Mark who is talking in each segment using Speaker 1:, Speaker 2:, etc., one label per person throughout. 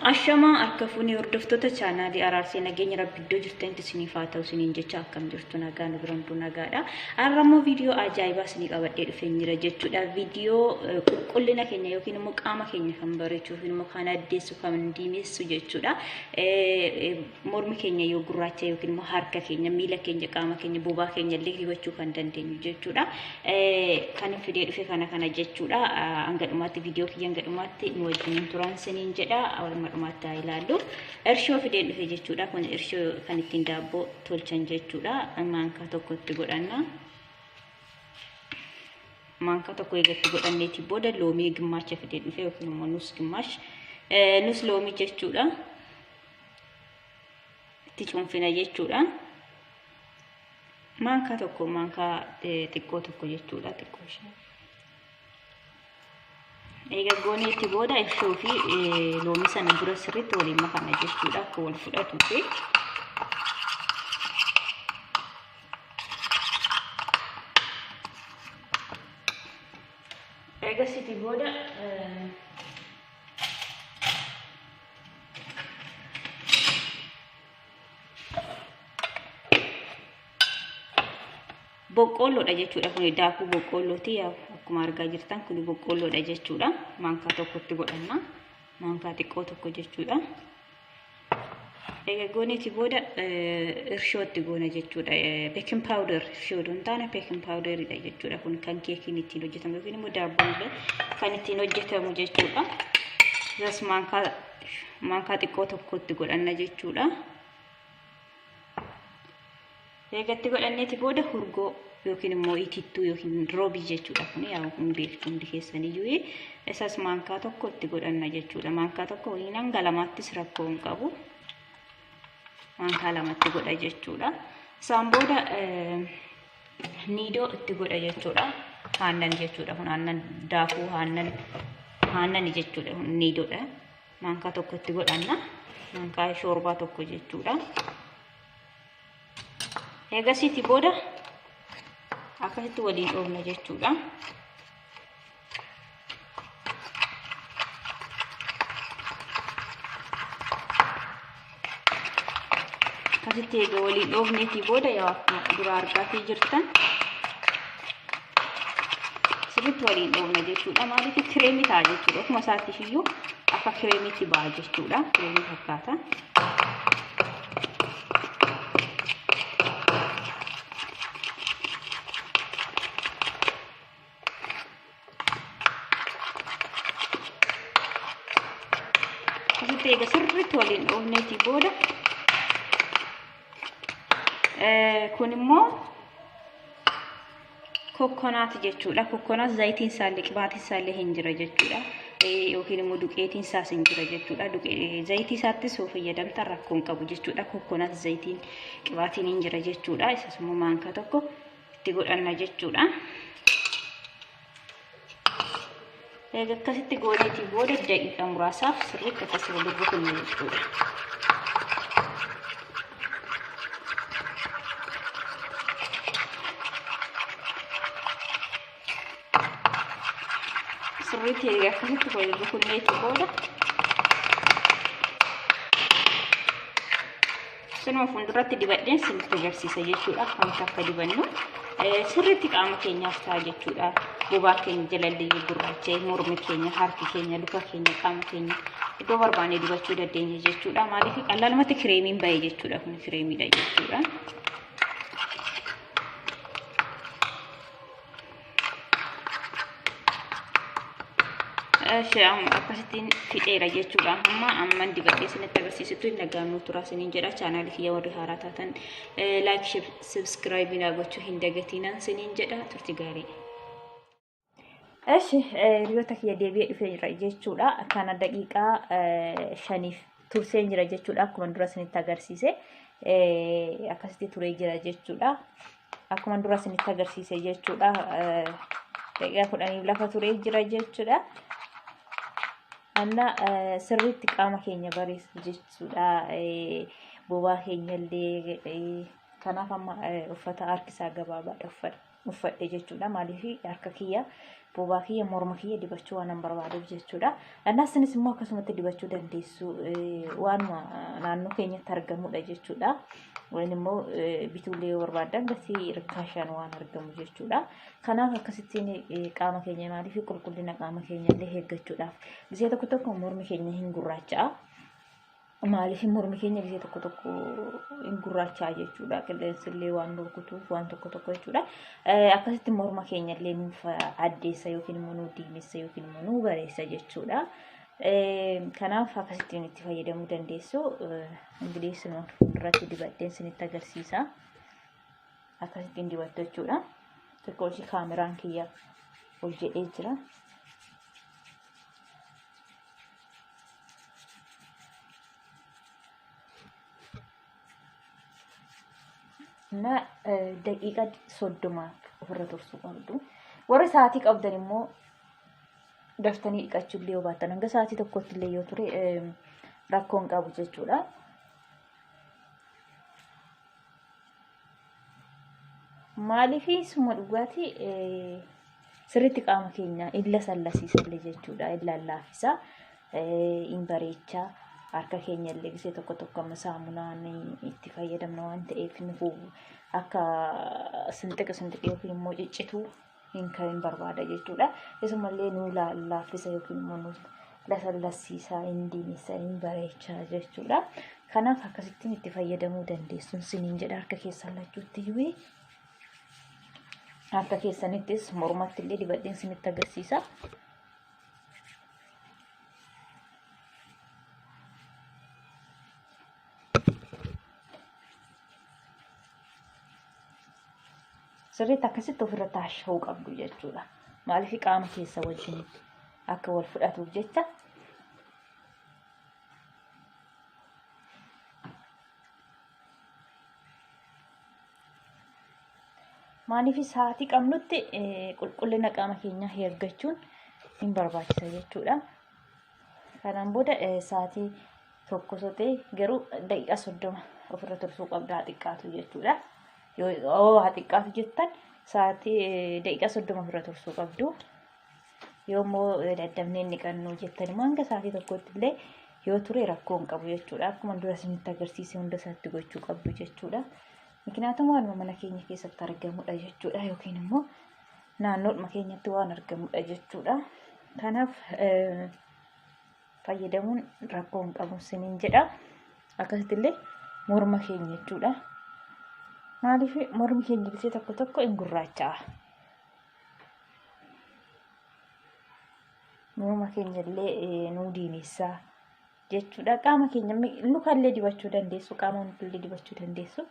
Speaker 1: Ashamaa harka fuunee hordoftoota chaanaalii araarsee nageenya rabbi iddoo jirtanitti isiniif haa ta'u isiniin jecha akkam jirtu nagaa nu biran nagaadha. Har'a immoo viidiyoo ajaa'ibaa isinii qabadhee dhufee jira jechuudha. Viidiyoo qulqullina keenya yookiin immoo qaama keenya kan bareechu yookiin immoo kan addeessu kan diimessu jechuudha. Mormi keenya yoo gurraacha yookiin immoo harka keenya, miila keenya, qaama keenya, bobaa keenya illee hubachuu kan dandeenyu jechuudha. Kan hin fidee dhufe kana kana jechuudha. Hanga dhumaatti viidiyoo kiyya hanga dhumaatti nu wajjiniin turan siniin jedha. Hanga dhumaatti haa ilaallu. Irshoo fideen dhufe jechuudha. Kun irshoo kan ittiin daabboo tolchan jechuudha. Maankaa tokkotti godhanna. Maankaa tokko eegatti godhanneeti booda loomii gimmaacha fideen dhufe yookiin immoo nus gimmaash. Nus loomii jechuudha. itti cuunfina jechuudha. Maankaa tokko maankaa xiqqoo tokko jechuudha xiqqoo ishee. Egaa goonee itti booda ishoo fi loomii sana dura sirriitti waliin makana jechuudha akka wal fudhatu fi egaa sitti booda boqqoolloodha jechuudha kun daakuu boqqoollooti yaa akkuma argaa jirtan kun boqqoolloodha jechuudha maankaa tokkotti godhanna maankaa xiqqoo tokko jechuudha egaa gooniiti booda irshootti goona jechuudha beekin paawuder irshoo hin taane beekin paawuderidha jechuudha kun kan keekiin ittiin hojjetamu yookiin immoo daabboon illee kan ittiin hojjetamu jechuudha. Isas maankaa maankaa xiqqoo tokkotti godhanna jechuudha. Eegatti godhanneeti booda hurgoo yookiin immoo itittuu yookiin roobii jechuudha kun yaa kun beektu hundi keessaniyyuu isas maankaa tokko itti godhanna jechuudha. Maankaa tokko waliin hanga lamaattis rakkoo hin qabu. Maankaa lamatti godha jechuudha. Isaan booda niidoo itti godha jechuudha. Haannan jechuudha kun haannan daakuu haannan haannani jechuudha kun niidoodha. Maankaa tokko itti godhanna. Maankaa shoorbaa tokko jechuudha. Eegasiiti booda akkasitti waliin dhoofna jechuudha. asitti eega waliin dhoofneetii booda yoo akkuma dura argaatii jirtan sirriitti waliin dhoofna jechuudha maaliif kireemii ta'a jechuudha ofuma isaatti iyyuu akka kireemiitti ba'a jechuudha kireemii fakkaata. Asitti egaa sirriitti waliin dhoofneetii booda kun immoo kokkonaati jechuudha. Kokkonaat zayitiin isaallee qibaatiin isaallee hin jira jechuudha. Yookiin immoo duqeetiin isaas hin jira jechuudha. Zayitii isaattis yoo fayyadamtan rakkoo hin qabu jechuudha. Kokkonaat zayitiin qibaatiin hin jira jechuudha. Isas immoo maankaa tokko itti godhanna jechuudha. Egaa akkasitti gooneetii booda daqiiqaa muraasaaf sirriitti akkasii wal rukunna jechuudha. sirriitti erga akkasitti wal rukunnee booda sinuma fuulduratti dibadheen sirriitti agarsiisa jechuudha akkamitti akka dibannu sirriitti qaama keenyaaf ta'a jechuudha bobaa keenya jalallee gurraacha'e mormi keenya harki keenya luka keenya qaama keenya iddoo barbaanne dibachuu dandeenya jechuudha maaliif qallalumatti kireemiin ba'e jechuudha kun kireemiidha jechuudha. Shaam akkasittiin fixeera jechuudha. Amma amman dibadhee isinitti agarsiisutti nagaan nu turaa isiniin jedha. Chaanaali kiyya warri haaraa taatan laayik sabskiraayibii naa gochuu hin dagatiinaan isiniin jedha. Turti gaarii. Eshi hiriyoota kiyya deebi'ee dhufee jira jechuudha. Akkaana daqiiqaa shaniif turseen jira jechuudha. Akkuma dura isinitti agarsiise akkasitti turee jira jechuudha. Akkuma dura isinitti agarsiise jechuudha. Daqiiqaa kudhaniif lafa turee jira jechuudha. Anna sirriitti qaama keenya bareessu jechuudha. Bobaa keenya illee kanaaf amma uffata harkisaa gabaabaadha uffata. uffadhe jechuudha. Maaliif harka kiyya bobaa kiyya morma kiyya dibachuu waan barbaadeef jechuudha. Dhannaasinis immoo akkasumatti dibachuu dandeessu waanuma naannoo keenyatti argamudha jechuudha. Waan immoo bituulee yoo barbaadan gatii rikkaashaan waan argamu jechuudha. Kanaaf akkasittiin qaama keenya maaliif qulqullina qaama keenya illee eeggachuudhaaf. Bisee tokko tokko mormi keenya hin gurraacha'a. Maaliif mormi keenya gisee tokko tokko hin gurraachaa jechuudha. Qilleensi illee waan rukutuuf waan tokko tokko jechuudha. Eh, Akkasitti morma keenya illee nuuf addeessa yookiin immoo nu diimessa yookiin immoo nu bareessa jechuudha. Eh, Kanaaf akkasittiin itti fayyadamuu dandeessu. Eh, Ingilis nu fuulduratti dibadheen isinitti agarsiisa. Akkasittiin dibattu jechuudha. Xiqqoo ishii kaameraan kiyya ol jedhee jira. እና daqiiqa soddoma ofirra tursuu qabdu. Warri sa'aatii qabdan immoo daftanii dhiqachuu illee yoo baattan hanga sa'aatii tokkotti illee yoo ture rakkoon qabu jechuudha. Maaliifii suma dhugaatii sirriitti qaama keenya illa sallasiisallee jechuudha. Illa laaffisa, hin bareecha. Harka keenya illee gisee tokko tokko amma saamunaan itti fayyadamna waan ta'eef nufu akka sinxiqi sinxiqi yookiin immoo ciccituu hin ka'in barbaada jechuudha. Isumallee nuu laaffisa yookiin immoo nuu lasallassiisaa hin diinessa hin bareechaa jechuudha. Kanaaf akkasittiin itti fayyadamuu dandeessuun siniin jedha harka keessan lachuutti iyyuu harka keessanittis mormatti illee dibadheen sinitti agarsiisa. sirriitti akkasitti ofirra taasha'uu qabdu jechuudha. Maaliif qaama keessa wajjin akka wal fudhatuuf jecha maaliif sa'aatii qabnutti qulqullina qaama keenyaa eeggachuun hin barbaachisa jechuudha. Kanaan booda sa'aatii tokko sotee garuu daqiiqaa soddoma ofirra tursuu qabda haa xiqqaatu jechuudha. Yoo haa xiqqaatu jettan sa'aatii daqiiqaa soddoma ofirra tursuu qabdu. Yoo immoo daddafnee inni qannuu jettan immoo hanga sa'aatii tokkotti illee yoo ture rakkoo hin qabu jechuudha. Akkuma dura isinitti agarsiise hunda isaatti gochuu qabdu jechuudha. Miknaatum waanuma mana keenya keessatti argamudha jechuudha yookiin immoo naannoodhuma keenyatti waan argamudha jechuudha. Kanaaf fayyadamuun rakkoo hin qabu siniin jedha akkasitti illee morma keenya jechuudha maaliif mormi keenya bisee tokko tokko hin gurraacha'a morma keenya illee nuu diimeessa jechuudha qaama keenya luka illee dibachuu dandeessu qaama illee dibachuu dandeessu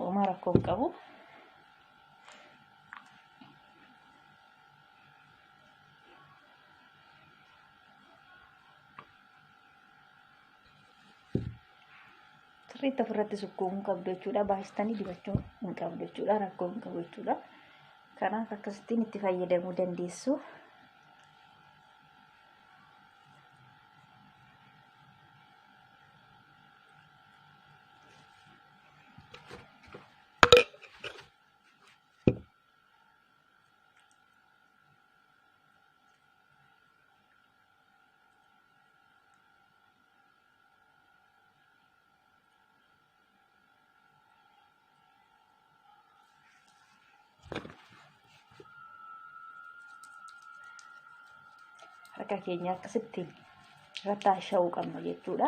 Speaker 1: homaa rakkoo hin qabu. sirriitti ofirratti sukkuu hin qabdu jechuudha. Baay'istanii dibachuu hin qabdu jechuudha. Rakkoo hin qabu jechuudha. Kanaaf akkasittiin itti fayyadamuu dandeessu. harka keenya akkasitti irratti haasha'uu qabna jechuudha.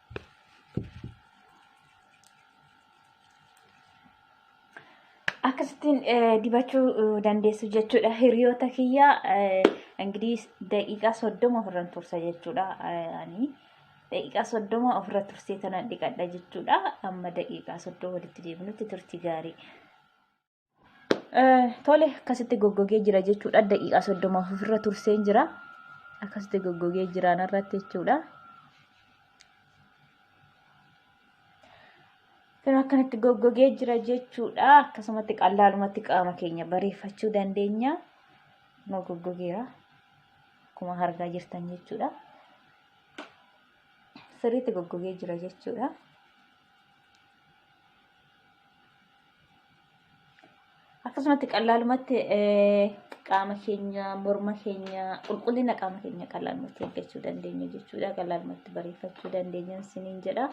Speaker 1: akkasittiin dibachuu dandeessu jechuudha hiriyoota kiyya ingirii daqiiqaa soddoma ofirran tursa jechuudha ani daqiiqaa soddoma ofirra tursee tanan dhiqadha jechuudha amma daqiiqaa soddoma walitti deebinutti turti gaarii Tole akkasitti goggogee jira jechuudha. Daqiiqaa soddoma ofirra turseen jira. Akkasitti goggogee jira narratti jechuudha. Yeroo akkanatti goggogee jira jechuudha. Akkasumatti qallaalumatti qaama keenya bareeffachuu dandeenya. Kunoo goggogeera. Akkuma argaa jirtan jechuudha. Sirriitti goggogee jira jechuudha. akkasumatti qallaalumatti qaama keenya morma keenya qulqullina qaama keenya qallaalumatti eeggachuu dandeenya jechuudha qallaalumatti bareeffachuu dandeenya siniin jedha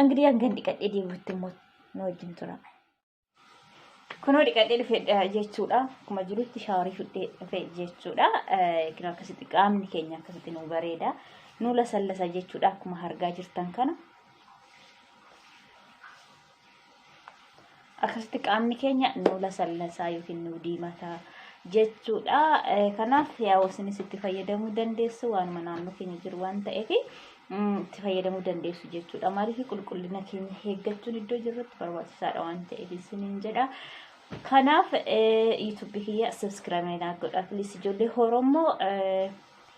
Speaker 1: angilii hangan dhiqadhee deebi'utti immoo nu wajjin tura kunoo dhiqadhee dhufe jechuudha akkuma jirutti shaawarii fudhee dhufe jechuudha kinoo akkasitti qaamni keenya akkasitti nu bareeda nu lasallasa jechuudha akkuma argaa jirtan kana akkasitti qaamni keenya nu lasallasaa yookiin nu diimataa jechuudha. Eh, Kanaaf yaa isinis itti fayyadamuu dandeessu waanuma naannoo keenya jiru waan ta'eef mm, itti fayyadamuu dandeessu jechuudha. Maaliif qulqullina keenya eeggachuun iddoo jirrutti barbaachisaadha waan ta'eef isiniin jedha. Kanaaf eh, YouTube kiyya subscribe naa godhaa please ijoollee Oromoo eh,